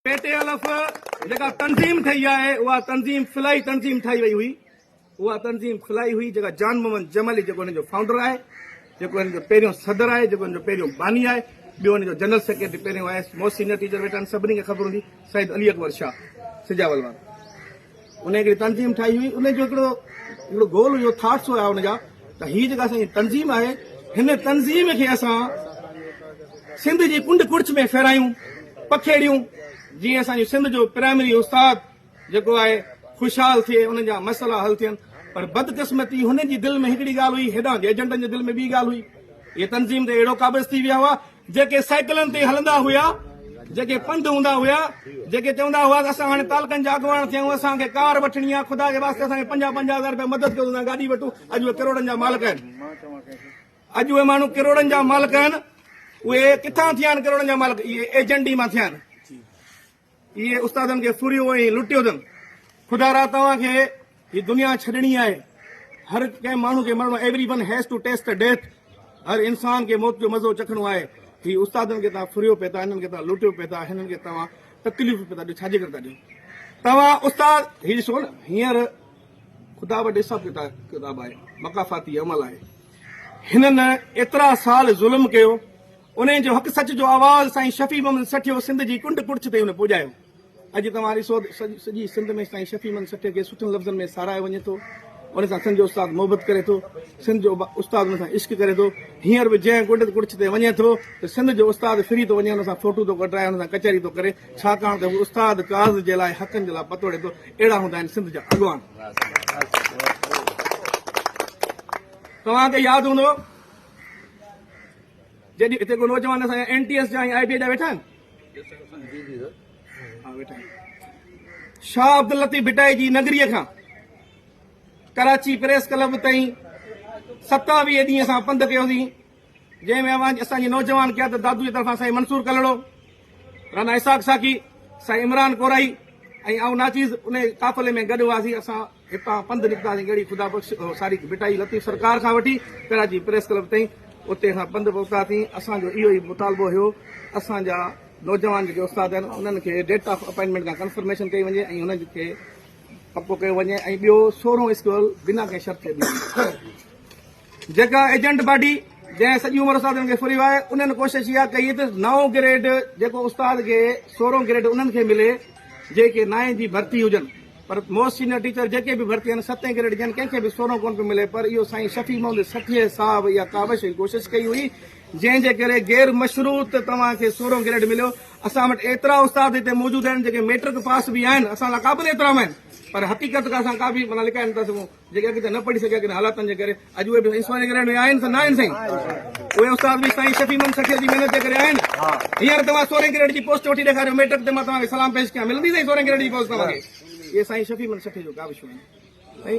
P T L F جيڪا تنظيم ٺهي آهي اها تنظيم خلائي تنظيم ٺاهي وئي هئي اها تنظيم خلائي هئي جيڪا جان محمد جمالي جيڪو هن جو فائونڊر آهي جيڪو هن جو پهريون صدر آهي جيڪو هن جو پهريون باني آهي ٻيو هن جو جنرل سيڪريٽري پهريون آيس مو سينيئر ٽيچر ويٺا آهن سڀني کي خبر هوندي سيد علي اڪبر شاهه سجاول وارو ان هڪڙي تنظيم ٺاهي هئي ان جو هڪڙو هڪڙو گول هيو ٿاٽس هيا ان جا ته هي جيڪا اسان تنظيم آهي هن تنظيم کي اسان سنڌ جي ڪنڊ ڪڙچ ۾ ڦيرايون پکيڙيون جي اسان جو سنڌ جو پرائمري استاد جيڪو آهي خوشحال ٿئي ان جا مسئلا حل ٿين پر بدقسمتي هن جي دل ۾ هڪڙي ڳالهه هئي هيڏانهن جي ايجنٽن جي دل ۾ ٻي ڳالهه هئي هي تنظيم تي اهڙو قابض ٿي ويا هئا جيڪي سائيڪلن تي هلندا هيا، جيڪي پنڌ هوندا هيا، جيڪي چوندا هئا ته اسان هاڻي تعلقن جا اڳواڻ ٿيا آهيون، اسان کي ڪار وٺڻي آهي، خدا جي واسطي اسان کي پنجاهه پنجاهه هزار رپيا مدد ڪيو ته اسان گاڏي وٺون، اڄ اهي ڪروڙن جا مالڪ آهن. اڄ اهي ماڻهو ڪروڙن جا مالڪ آهن، اهي ڪٿان ٿيا آهن ڪروڙن جا مالڪ؟ اهي ايجنڊي مان ٿيا آهن. اهي استادن کي ڦريو ۽ لٽيو اٿن. خدا را توهان کي هي دنيا ڇڏڻي آهي. هر ڪنهن ماڻهو کي مرڻو Every one has to taste the death هر انسان کي موت جو مزو چکڻو آهي. هي استادن کي توهان ڦريو پئي ٿا، هنن کي توهان لٽيو پئي ٿا، هنن کي توهان تڪليفون پئي ٿا ڏيو، ڇاجي ڪري ٿا ڏيو؟ توهان استاد هي ڏسو نه هينئر خدا وٽ حساب ڪتاب آهي، مقافاتي عمل آهي. هنن ايترا سال ظلم ڪيو. انهن جو حق سچ جو آواز سائين شفيع محمد سٺيو سنڌ جي ڪنڊ ڪڙڇ تائين هن پڄايو. اڄ توهان ڏسو ته سڄي سنڌ ۾ سائين شفيع محمد سٺيو کي سٺن لفظن ۾ ساراهيو وڃي ٿو. ان سان سنڌ جو استاد محبت ڪري ٿو. سنڌ جو استاد ان سان عشق ڪري ٿو. هينئر به جنهن ڪنڊ ڪڙڇ تي وڃي ٿو ته سنڌ جو استاد ڦري ٿو وڃي ان سان فوٽو ٿو ڪڍرائي ان سان ڪچهري ٿو ڪري ڇاڪاڻ ته هو استاد ڪاز جي لاء حقن جي لاء پتوڙي ٿو. اهڙا هوندا آهن سنڌ جا اڳواڻ. توهان کي ياد هوندو جيڏي هتي ڪو نوجوان اسان جا اين ٽي ايس جا ۽ آء بي جا ويٺا آهن شاهه عبداللطيف ڀٽائي جي نگريء کان ڪراچي پريس ڪلب تائين ستاويهه ڏينهن اسان پنڌ ڪيوسين جنهن ۾ اوهان اسان جي نوجوان قيادت دادو جي طرفان سائين منصور ڪلڙو رانا اسحاق ساقي سائين عمران ڪورائي ۽ آئون ناچيز ان قافلي ۾ گڏ هئاسين اسان هتان پنڌ نڪتاسين ڳڙهي خدا بخش ساري ڀٽائي لطيف سرڪار کان وٺي ڪراچي پريس ڪلب تائين اتي اسان پنڌ پهتاسين اسان جو اهو ئي مطالبو هيو اسان جا نوجوان جيڪي استاد آهن انهن کي ڊيٽ آف اپائنٽمينٽ کان ڪنفرميشن ڪئي وڃي ۽ انهن کي پڪو ڪيو وڃي ۽ ٻيو سورهون اسڪول بنا ڪنهن شرط جي ڏنو وڃي جيڪا ايجنٽ پارٽي جنهن سڄي عمر استادن کي ڦريو آهي انهن ڪوشش اها ڪئي ته نائون گريڊ جيڪو استاد کي سورهون گريڊ انهن کي ملي جيڪي نائين جي ڀرتي هجن پر موسٽ سينئر ٽيچر جيڪي به ڀرتي آهن ستين گريڊ جن ڪنهن کي به سورهون ڪونه پيو ملي پر اهو سائين شفيع محمد سٺيي صاحب اها ڪاوش ۽ ڪوشش ڪئي هئي جنهن جي ڪري غير مشروط توهان کي سورهون گريڊ مليو اسان وٽ ايترا استاد هتي موجود آهن جيڪي ميٽرڪ پاس به آهن اسان لاء قابل احترام آهن پر حقيقت کان اسان ڪا به معنيٰ لڪائي نٿا سگهون جيڪي اڳ ته نه پڙهي سگهيا ڪن حالاتن جي ڪري اڄ اهي به سوانح گرهه ۾ آهن سان نه آهن سائين اهي استاد به سائين شفيع محمد سخيء جي محنت جي ڪري آهن هينئر توهان سورهين گريڊ جي پوسٽ وٺي ڏيکاريو ميٽرڪ تي مان توهان کي سلام پيش ڪيان ملندي سائين سورهين گريڊ جي پوسٽ توهان کي اهي سائين شفيع محمد سخيء جو ڪاوشون آهن